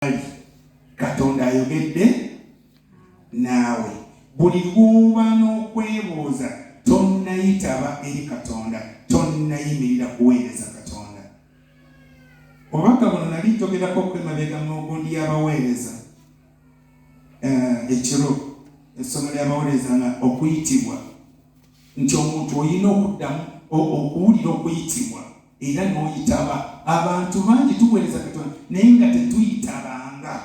bali katonda ayogedde naawe buli lwoba n'okwebuuza tonnayitaba eri katonda tonnayimirira kuweereza katonda obubaka buno nali njogerako okwemabega mu gundi y'abaweereza eh, ekiro essomo ly'abaweereza nga okuyitibwa nti omuntu olina okuddamu okuwulira okuyitibwa era n'oyitaba abantu bangi tuweereza katonda naye nga tetuyitabanga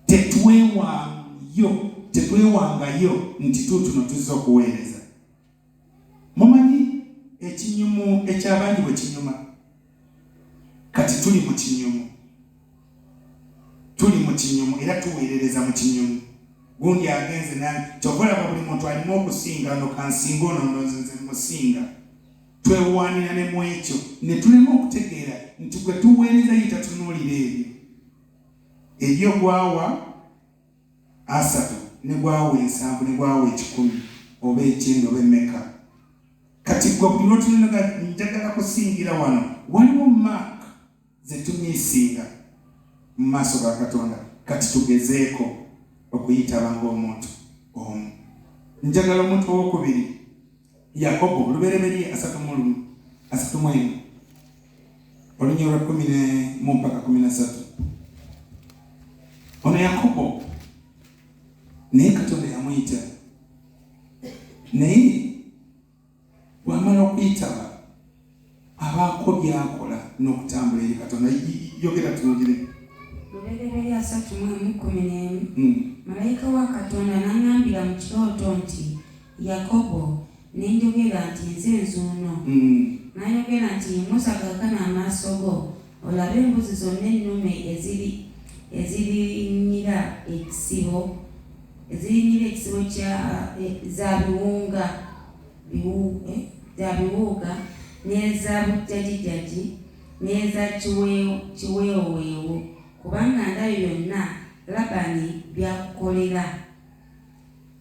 tetwewangayo tetwewangayo nti tuutuno tuzza okuweereza mumanyi ekinyumu eky'abandi bwe kinyuma kati tuli mu kinyumu tuli mu kinyumu era tuweerereza mu kinyumu gundi agenze nani kyovolaba buli muntu alimu okusinga no kansinga ono nonzinze musinga twewaanira ne mu ekyo ne tulema okutegeera nti gwe tuweereza ye tatunuulira ebyo ebyo gwawa asatu ne gwawa ensanvu ne gwawa ekikumi oba ekyenda oba emeka kati gwe buli lwotunonaga njagala kusingira wano waliwo maaka zetumisinga mu maaso ga Katonda. Kati tugezeeko okuyitaba ng'omuntu omu. Njagala omuntu owokubiri, Yakobo olubereberye asatu mu lumu asatu mu emu olunya olwa kumi ne mu mpaka kumi na satu ono Yakobo naye Katonda yamuyita naye bwamala okuyitaba abaako byakola n'okutambula eri katonda yogera tuwulire lubereberye asatu mu emu kkumi n'emu hmm. malayika wa katonda n'aŋambira mu kirooto nti yakobo ne njogera nti nze nzuuno hmm. n'ayogera nti yimusa kakana amaaso go olabe embuzi zonna ennume ezirinyira ekisibo eziyingira ekisibo kya eh, za biwunga eh, za biwuuga n'eza bujjajijaji n'eza kiweewoweewo kubanga ndabyo byonna labani byakukolera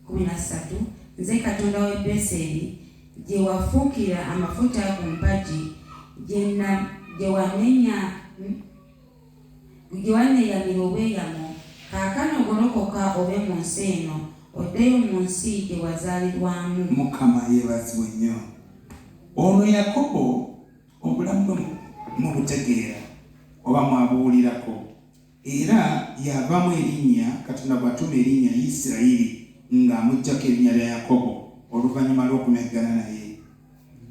kumi na ssatu nze katonda w'e beseri gye wafuukira amafuta ku mpagi gye wanenya Ggwe wanneeyamira obweyamo, kaakano golokoka ove mu nsi eno, oddeyo mu nsi gye wazaalirwamu. Mukama yeebazibwe nnyo! Ono Yakobo obulamu bwe mubutegeera oba mwabuwulirako? Era y'avaamu erinnya Katonda gw'atuma erinnya Yisirayiri, nga amuggyako erinnya lya Yakobo oluvannyuma lw'okumeggana naye.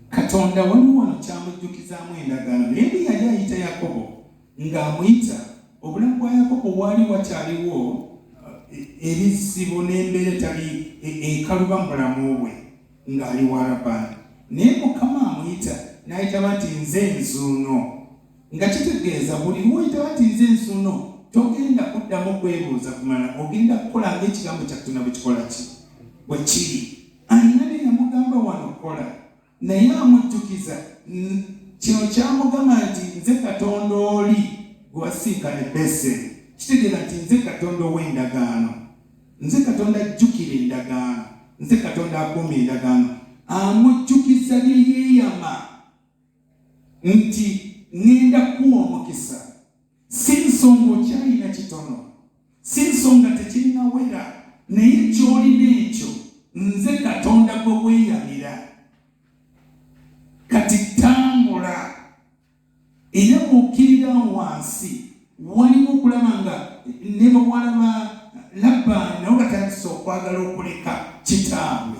katonda waliwo wano kyamujjukizaamu endagaano naye bwe yali ayita yakobo ng'amuyita obulamu bwa yakobo waali wakyaliwo eh, ebizibu n'embeera etali eh, ekaluba mu bulamu bwe ng'ali wa labani naye mukama amuyita n'ayitaba nti nze nzuuno nga kitegeeza buli lwoyitaba nti nze nzuuno togenda kuddamu kwebuuza kumala ogenda kukola ngaekigambo kyakutuna bwekikola ki bwe kiri Alina bye yamugamba wano kola naye amujjukiza kino kyamugamba nti nze Katonda oli gwe wasinkana e Beseri. Kitegeeza nti nze Katonda ow'endagaano, nze Katonda ajjukira endagaano, nze Katonda akuuma endagaano. Amujjukiza bye yeeyama nti ŋŋenda kukuwa omukisa. si nsonga okyalina kitono, si nsonga tekinnawera, naye ky'olina ekyo nze Katonda gwe weeyamira. Kati tambula era bw'okkirira wansi waliwo okulaba nga ne bawala ba Labbaani nabo batandise okwagala okuleka kitaabwe.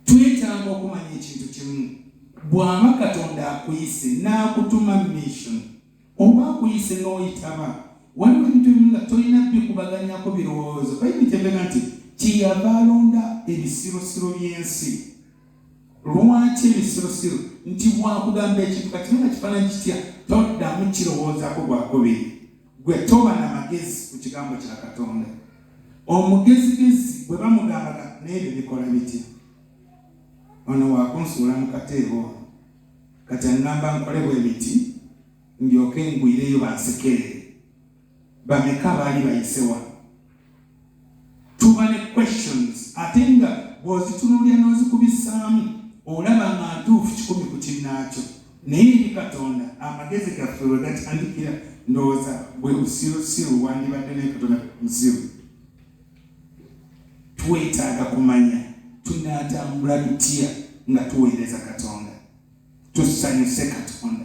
twetaaga okumanya ekintu kimu bw'aba katonda akuyise n'akutuma mission oba akuyise n'oyitaba waliwo ebintu bimu nga tolina bikubaganyako birowoozo bayibuli kyebega nti kyeyava alonda ebisirosiro by'ensi lwaki ebisirosiro nti bwakugamba ekintu kati nga kifaananyi kitya toddamu kirowoozako gwakubiri gwe toba na magezi ku kigambo kya katonda omugezigezi bwe bamugambaga n'ebyo bikola bitya ono wakunsuula mu kateebo ono kati aŋŋamba nkole bwe biti ndyoke ngwireyo bansekerere bameka baali bayise wano tuba ne questions ate nga bw'ozitunulira n'ozikubisaamu olaba nga ntuufu kikumi ku kinnaakyo naye eri katonda amagezi gaffe we gatandikira ndowooza bwe busirusiru wandibadde naye katonda musiru twetaaga kumanya tunaatambula tutya nga tuweereza katonda tusanyuse katonda